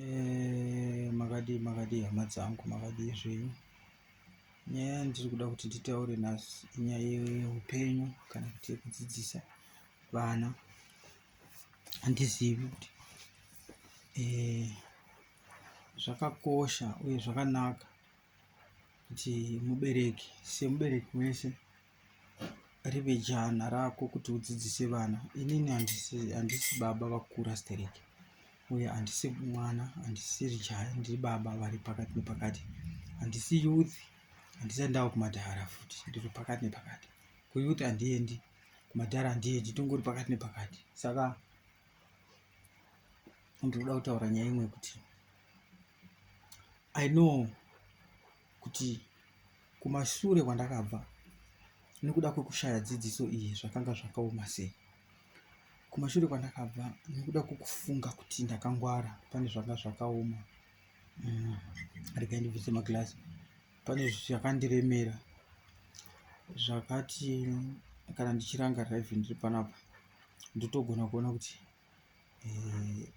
Eh, makadii makadii hama dzangu makadii zvenyu nyaya yandiri kuda kuti nditaure nhasi inyaya yeupenyu kana kuti yekudzidzisa vana handizivi kuti eh, zvakakosha uye zvakanaka kuti mubereki semubereki wese rive jana rako kuti udzidzise vana inini handisi baba vakura stereki uye handisi mwana handisiri jaya ndiri baba vari pakati nepakati handisi youth handisati ndava kumadhara futi ndiri pakati nepakati kuyouth handiendi kumadhara handiendi tongori pakati nepakati saka ndinoda kutaura nyaya imwe kuti i know kuti kumashure kwandakabva nekuda kwekushaya dzidziso iyi zvakanga zvakaoma sei kumashure kwandakabva nekuda kwekufunga kuti ndakangwara pane zvanga zvakaoma mm, regai ndibvise maglass pane zvakandiremera zvakati kana ndichiranga rive ndiri panapa ndotogona kuona kuti eh,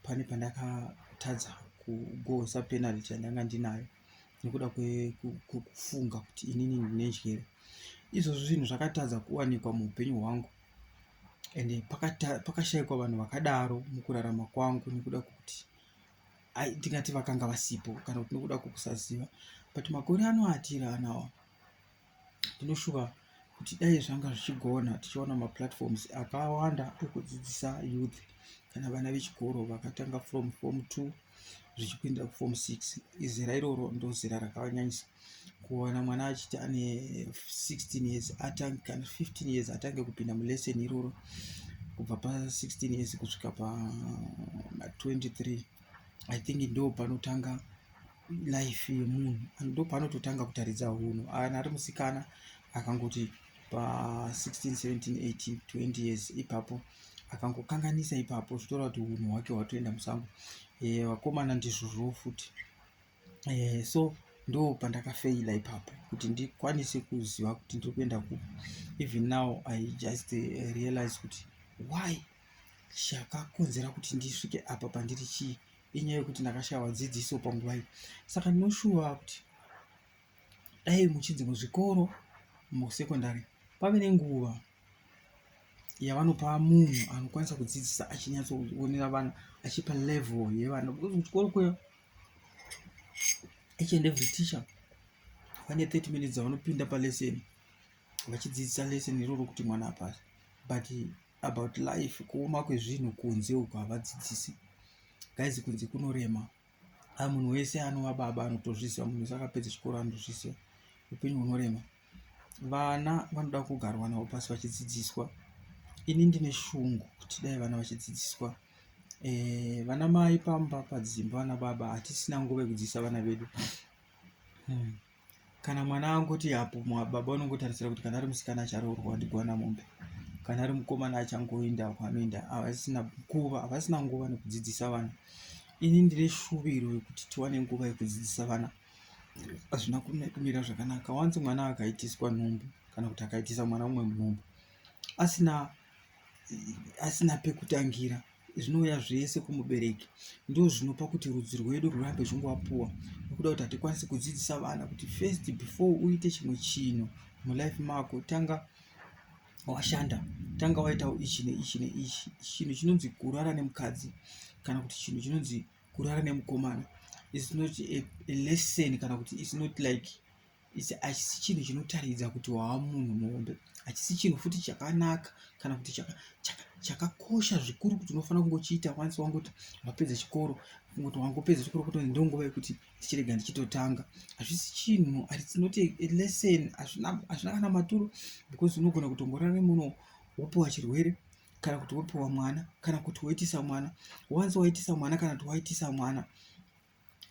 pane pandakatadza kugohwesa penalty yandanga ndinayo nekuda kwekufunga kuti inini ndine njere izvozvo zvinhu zvakatadza kuwanikwa muupenyu hwangu and pakashaikwa vanhu vakadaro mukurarama kwangu nekuda kwekuti ndingati vakanga vasipo kana kuti nekuda kwekusaziva but makore anoatira anawa tinoshuva kuti dai zvanga zvichigona tichiona maplatforms akawanda ekudzidzisa youth kana vana vechikoro vakatanga from form two zvichipindira kuform six izera iroro ndozera rakanyanyisa kuwana mwana achiti ane 16 years atange kana 15 years atange kupinda mulesson iroro kubva pa16 years kusvika pa23 i think ndo panotanga life yemunhu ndo paanototanga kutaridza hunhu ana ari musikana akangoti pa 16 17 18 20 years ipapo akangokanganisa ipapo zvitora kuti hunhu hwake hwatoenda musango eh, vakomana ndizvozvowo futi eh, so ndo pandakafeila ipapo kuti ndikwanise kuziva kuti ndiri kuenda ku even now i just eh, realize kuti why chakakonzera kuti ndisvike apa pandiri chii inyaya yekuti ndakashaiwa dzidziso panguva iyi saka ndinoshuva kuti dai muchinzi muzvikoro musekondari pave nenguva yavanopa munhu anokwanisa kudzidzisa achinyatsoonera vana achipa level yevana because kuchikoro kuya each and every teacher vane 30 minutes dzavanopinda paleseni vachidzidzisa leseni iroro kuti mwana apasi but about life kuoma kwezvinhu kunze uku havadzidzisi guys kunze kunorema a munhu wese anova baba anotozviziva munhu wese akapedza chikoro anotozviziva upenyu hunorema vana vanoda kugarwa navo pasi vachidzidziswa ini ndine shungu kuti dai vana vachidzidziswa eh, vana mai pamba padzimba vana baba hatisina nguva yekudzidzisa vana vedu hmm. kana mwana anguti apo baba unongotarisira kuti kana ari musikana acharoorwa ndigwana mombe kana ari mukomana achangoenda kwanoenda havasina nguva havasina nguva nekudzidzisa vana ini ndine shuviro yekuti tiwane nguva yekudzidzisa vana hazvina kumira zvakanaka wanzi mwana akaitiswa nhumbu kana kuti akaitisa mwana umwe munhumbu asina asina pekutangira zvinouya zvese kumubereki ndozvinopa kuti rudzi rwedu rwurambe zvongovapuwa nokuda kuti hatikwanisi kudzidzisa vana kuti first before uite chimwe chinhu mulife mako tanga washanda tanga waitawo ichi neichi neichi chinhu chinonzi kurara nemukadzi kana kuti chinhu chinonzi kurara nemukomana is not a, a lesson kana kuti is not like Ichi hachisi chinhu chinotaridza kuti wava munhu muhombe. Hachisi chinhu futi chakanaka kana kuti chakakosha zvikuru kuti unofanira kungochiita once wangoti wapedza chikoro kuti wangopedza chikoro kuti ndonguva yekuti ndichirega ndichitotanga. Hazvisi chinhu and it's not a lesson hazvina kana maturo because unogona kutongorara nemunhu wopiwa chirwere kana kuti wopiwa mwana kana kuti woitisa mwana. Once waitisa mwana kana kuti waitisa mwana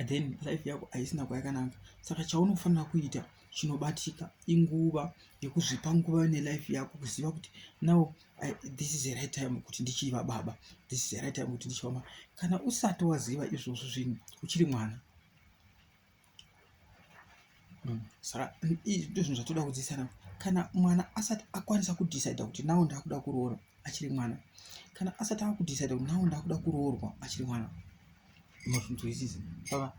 then life yako haisina kwayakananga saka chaunofanira kuita chinobatika inguva yekuzvipa nguva nelife yako kuziva kuti now I, this is the right time kuti ndichiva baba this is the right time kuti ndichiva mama kana usati waziva izvozvo zvinhu uchiri mwana mm. saka ndozvinhu zvatoda kudzidzisana kana mwana asati akwanisa kudhisaida kuti nawo ndakuda kuroora achiri mwana kana asati akudhisaida kuti nawo ndakuda kuroorwa achiri mwana mazvinzwisisa saka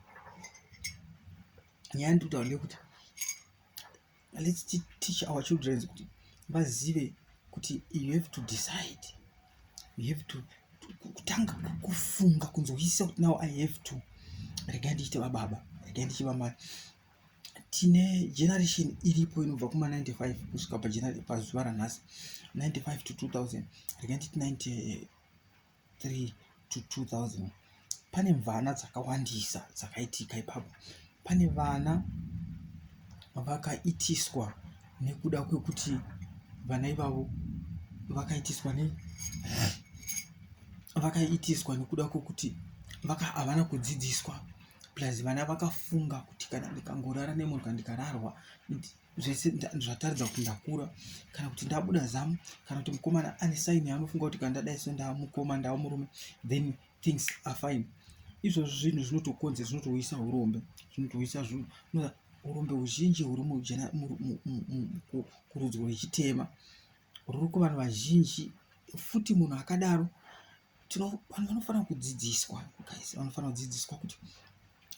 nyaya ndiri kutaura ndeyekuti let's teach our children kuti vazive kuti you have to decide you have to kutanga kufunga kunzwisisa kuti now i have to regai ndichite vababa regai ndichiva mari tine generation iripo inobva kuma 95 kusvika pazuva ranhasi 95 to 2000 regai nditi 93 to 2000 pane mvana dzakawandisa dzakaitika ipapo pane vana vakaitiswa nekuda kwekuti vana ivavo vakaitiswa ne vakaitiswa nekuda kwekuti vaka havana kudzidziswa plus vana vakafunga kuti kana ndikangorara nemurwi kandikararwa zvese zvataridza kuti ndakura kana kuti ndabuda zamu kana kuti mukomana ane saini yaanofunga kuti kana ndadai so ndava mukoma ndava murume then things are fine izvozvo zvinhu zvinotokonze zvinotouyisa urombe zvinotouyisa zvinhu urombe huzhinji huri kurudzwa yechitema ruri kuvanhu vazhinji futi munhu akadaro vanhu vanofanira kudzidziswa guys vanofanira kudzidziswa kuti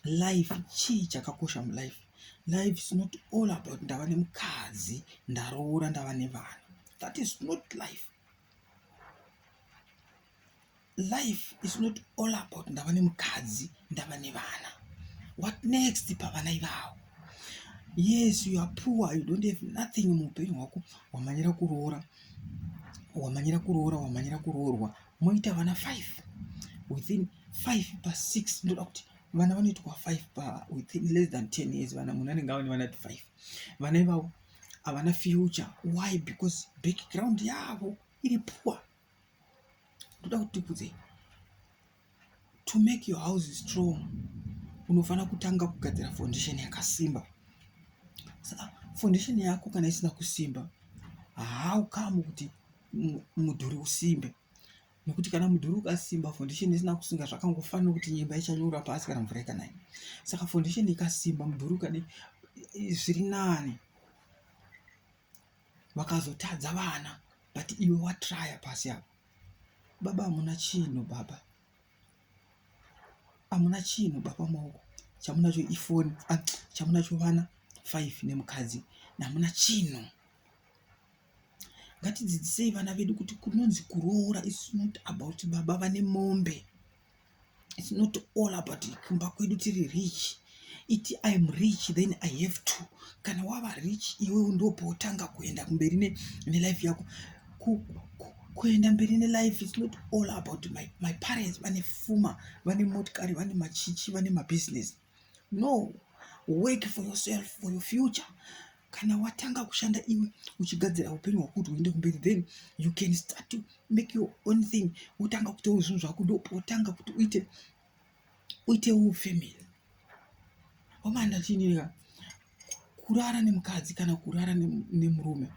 life chii chakakosha mulife life is not all about ndava nemukadzi ndaroora ndava nevana that is not life life is not all about ndava nemukadzi ndava nevana what next pavana ivavo yes you are poor you don't have nothing muupenyu hwako wamanyira kuroora wamanyira kuroora wamanyira kuroorwa moita vana five within five pa six ndoda kuti vana vanoitwa five pa within less than ten years vana munhu anenge ava nevana ti five vana ivavo havana future why because background yavo iri poor ndoda kuti ndibvunze to make your house strong unofanira kutanga kugadzira foundation yakasimba saka foundation yako kana isina kusimba haukamu kuti mudhuri usimbe nekuti kana mudhuri ukasimba foundation isina kusinga zvakangofanira kuti nyemba ichanyura pasi kana mvura ikanaya saka foundation ikasimba mudhuri ukadi zviri nani vakazotadza vana but iwe watraya pasi apa baba hamuna chinhu baba hamuna chinhu baba maoko chamunacho ifoni ah, chamunacho vana five nemukadzi hamuna chinhu ngatidzidzisei vana vedu kuti kunonzi kuroora is not about baba vane mombe it's not all about kumba kwedu tiri rich iti iam rich then i have to kana wava rich iwe ndopautanga kuenda kumberi nelife yako kuenda mberi nelife its not all about my, my parents vane fuma vane motikari vane machichi vane mabusiness No, work for yourself, for your future. Kana watanga kushanda iwe uchigadzira upenyu hwako kuti huende kumberi then you can start to make your own thing. Wotanga kuitawo zvinhu zvako ndopo wotanga kuti uite uitewo family. Wamanda chini ka? Kurara nemukadzi kana kurara nemurume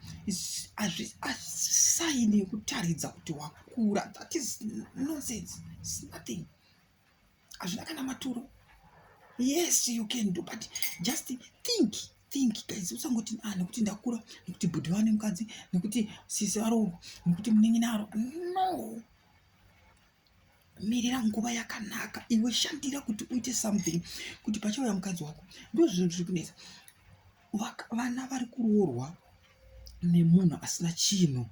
saini yekutaridza kuti wakura. That is nonsense. It's nothing. hazvina kana maturo yes you can do but just think think guys usangoti ah nekuti ndakura nekuti bhudhi vane mukadzi nekuti sisi varoorwa nekuti muningi naro no mirira nguva yakanaka iwe shandira kuti uite something kuti pachauya mukadzi wako ndozvinhu zviri kunetsa vana vari kuroorwa nemunhu asina chinhu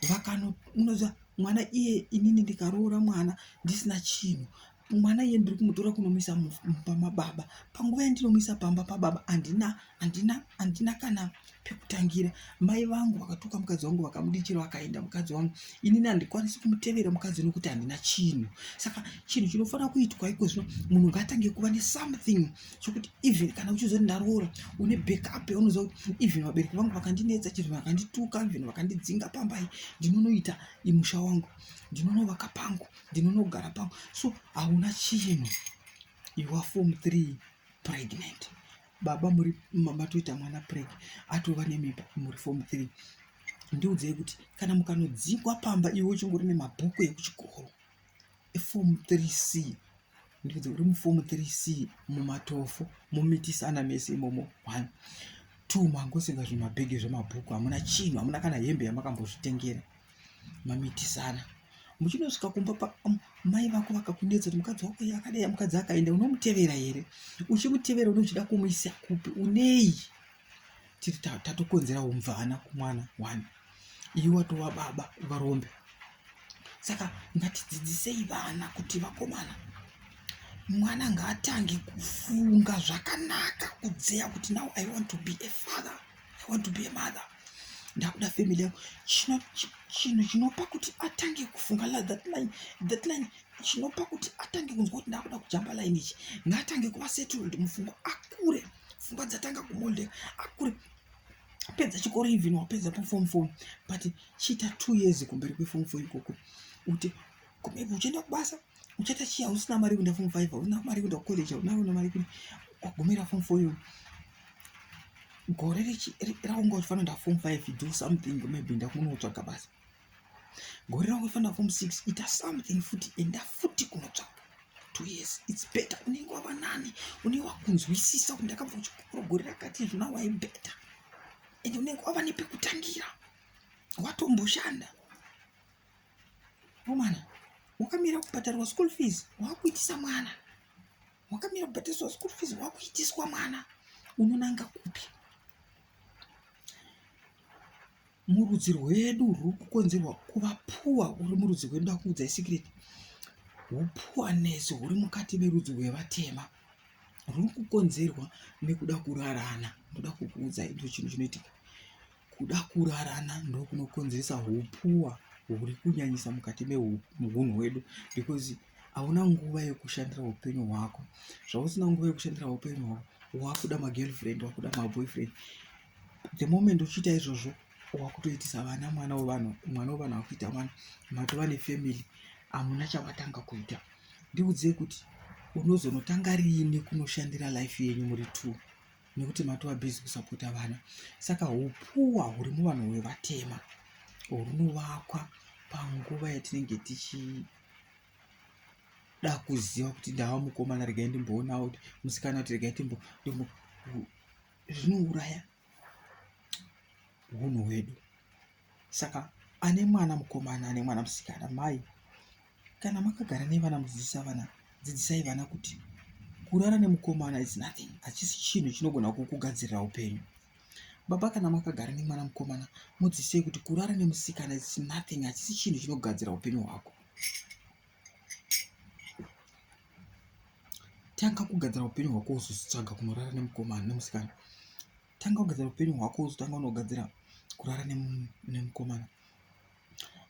vakanonoza mwana iye inini ndikaroora mwana ndisina chinhu mwana iye ndiri kumutora kunomuisa pama baba panguva yandinomuisa pamba pababa andina andina andina kana pekutangira mai vangu vakatuka mukadzi wangu vakamudichira vakaenda mukadzi wangu inini handikwanisi kumutevera mukadzi nokuti handina chinhu saka chinhu chinofanira kuitwa iko zvino munhu ngaatange kuva nesomething sokuti even kana uchiziva kuti ndaroora une backup yaunoziva kuti even vabereki vangu vakandinetsa chero vakandituka even vakandidzinga pambai ndinonoita imusha wangu ndinonovaka pangu ndinonogara pangu so hauna chinhu you are form three pregnant baba muri matoita mwana preg atova nemimba muri form three ndiudzei kuti kana mukanodzingwa pamba iwe uchingori nemabhuku ekuchikoro Ifomu 3C ndikuti uri mufomu 3C mumatofo mumitisana mese imomo one two mangosika zvimabhegi zvemabhuku hamuna chinhu hamuna kana hembe yamakambozvitengera mamitisana muchinosvika kumba um, mai vako vakakunetsa kuti mukadzi wako iye akadai mukadzi akaenda unomutevera here uchimutevera unochida kumuisa kupi unei tiri tatokonzera umvana kumwana one iwe watova baba varombe saka ngatidzidzisei vana kuti vakomana mwana ngaatange kufunga zvakanaka kudzeya kuti now i want to be a father i want to be a mother ndakuda family yangu chinhu chinopa kuti atange kufunga that line that line chinopa kuti atange kunzwa kuti ndakuda kujamba line ichi ngaatange kuva settled mupfungwa akure pfungwa dzatanga kumoldeka akure pedza chikoro even wapedza paform four but chiita two years kumberi kweform four ikoko kuti kumberi uchienda kubasa uchaita chii hausina mari kuenda form five hauna mari kuenda kucollege hauna una mari kudi wagumira form four iyo gore raunga uchifanira nda form five do something maybe ndakunotsvaga basa gore rangu ifanira form six ita something futi enda futi kunotsvaka two years its better unenge wava nani unenge wakunzwisisa kuti ndakabva kuchikoro gore rakati izvo now i better and unenge wava nepekutangira watomboshanda omana wakamira kubhadharwa school fees wakuitisa mwana wakamira kubhadhariswa school fees wakuitiswa mwana unonanga kupi Murudzi rwedu ruri kukonzerwa kuva phuwa uri murudzi rwedu ndakuudza isikiriti uphuwanesi huri mukati merudzi rwevatema ruri kukonzerwa nekuda kurarana ndoda kukuudza ito chinhu chinoitika kuda kurarana ndokunokonzeresa uphuwa huri kunyanyisa mukati mehunhu hwedu because hauna nguva yekushandira upenyu hwako zvausina nguva yekushandira upenyu hwako wakuda magirlfriend wakuda maboyfriend the moment uchiita izvozvo wakutoitisa vana mwana wevanhu mwana wevanhu akuita mwana matova nefamily hamuna chavatanga kuita ndiudzei kuti unozonotanga riini kunoshandira life yenyu muri two nekuti matova busy kusapota vana saka upuwa huri muvanhu hwevatema hunovakwa panguva yatinenge tichida kuziva kuti ndava mukomana regai ndimboonawo kuti musikana kuti regai timbo zvinouraya hunhu hwedu saka ane mwana mukomana ane mwana musikana mai kana makagara nevana mudzidzisa vana dzidzisai vana kuti kurara nemukomana is nothing hachisi chinhu chinogona kukugadzirira upenyu baba kana makagara nemwana mukomana mudzidzisei kuti kurara nemusikana is nothing hachisi chinhu chinogadzira upenyu hwako tanga kugadzira upenyu hwako uzotsvaga kunorara nemukomana nemusikana tanga kugadzira upenyu hwako uzotanga unogadzira kurara nemukomana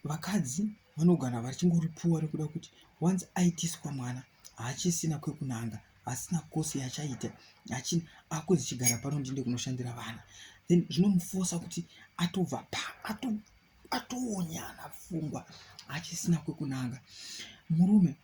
vakadzi vanogara vachingoripuwa rekuda kuti once aitiswa mwana haachisina kwekunanga asina kosi yachaita achina akuzi chigara pano ndinde kunoshandira vana then zvinomufosa kuti atobva pa ato atonyana pfungwa achisina kwekunanga murume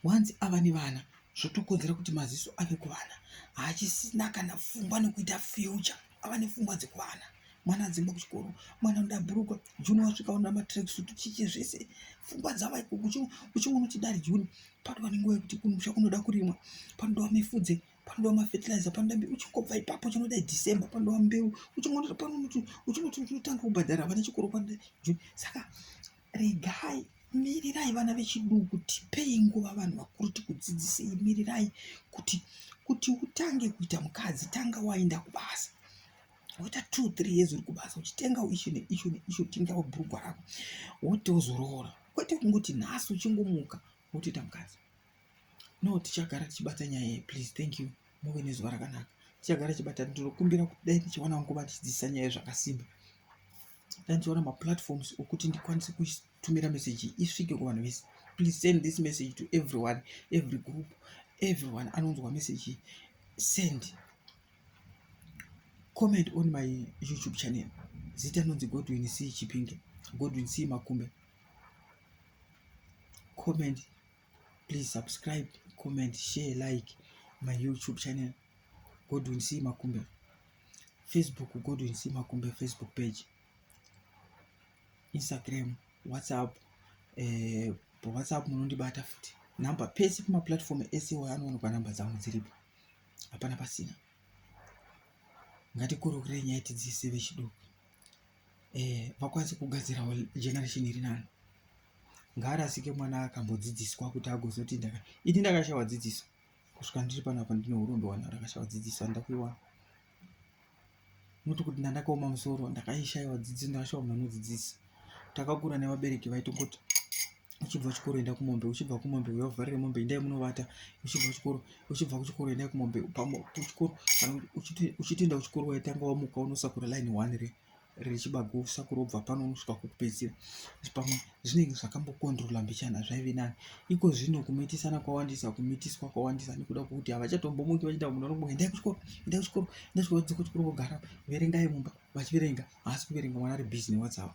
wanzi ava nevana zvotokonzera kuti maziso ave kuvana haachisina kana pfungwa nekuita future ava nepfungwa dzekuvana mwana adzingwa kuchikoro mwana anoda bhurukwa juni wasvika unoda matrekisut chichi zvese pfungwa dzava ikoko uchingonoti dari juni patova nenguva yekuti kumusha kunoda kurimwa panodawa mifudze panoda mafertilizer panoda mbeu uchingobva ipapo chinoda december panoda mbeu uchingonoda panoti uchinoti uchinotanga kubhadhara vana chikoro panoda june saka regai mirirai vana vechiduku tipei nguva vanhu vakuru tikudzidzisei mirirai kuti kuti utange kuita mukadzi tanga waenda kubasa woita two three years uri kubasa uchitenga icho neicho neicho utengawo bhurugwa rako wotozoroora kwete kungoti nhasi uchingomuka wotoita mukadzi no tichagara tichibata nyaya iyi please thank you muve nezuva rakanaka tichagara tichibata ndinokumbira kuti dai ndichiwana nguva ndichidzidzisa nyaya iyi zvakasimba dai ndichiwana maplatforms okuti ndikwanise kutumira meseji iyi isvike kuvanhu vese please send this message to everyone every group everyone anonzwa meseji send comment on my youtube channel zita nonzi godwin c chipinge godwin c makumbe comment please subscribe comment share like my youtube channel godwin c makumbe facebook godwin c makumbe facebook page instagram whatsapp eh, whatsapp munondibata futi namba pese pamaplatform ese wayo anoonekwa namba dzangu dziripo hapana pasina ngatikurukurei nyaya tidziise vechiduku eh, vakwanise kugadzirawo generation iri nani ngaarasike mwana akambodzidziswa kuti agozoti ndaka ini ndakashaiwa dzidziso kusvika ndiri pano apa ndine urombe wana ndakashaiwa dzidziso handida kuiwana noti kuti ndandakaoma musoro ndakaishaiwa dzidziso ndakashaiwa munhu anodzidzisa takakura nevabereki vaitongoti uchibva kuchikoro enda kumombe uchibva kumombe uya uvharire mombe endai munovata uchibva kuchikoro uchibva kuchikoro endai kumombe kuchikoro uchitoenda kuchikoro waitanga wamuka unosakura line one re rechibago usakura ubva pano unosvika kukupedzisira pamwe zvinenge zvakambokondrola mbichana zvaive nani iko zvino kumitisana kwawandisa kumitiswa kwawandisa nekuda kwekuti havachatombomwiki vachiita munhu anombo endai kuchikoro endai kuchikoro endai kuchikoro dzoka kuchikoro vogara verengai mumba vachiverenga haasi kuverenga mwana ari busy newhatsapp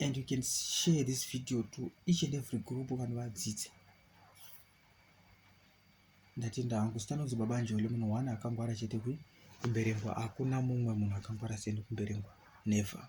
and you can share this video to each and every group vanhu vadzidze ndatenda hangu sitanonzi baba njoli munhu one akangwara chete kwi kumberengwa hakuna mumwe munhu akangwara seni kumberengwa never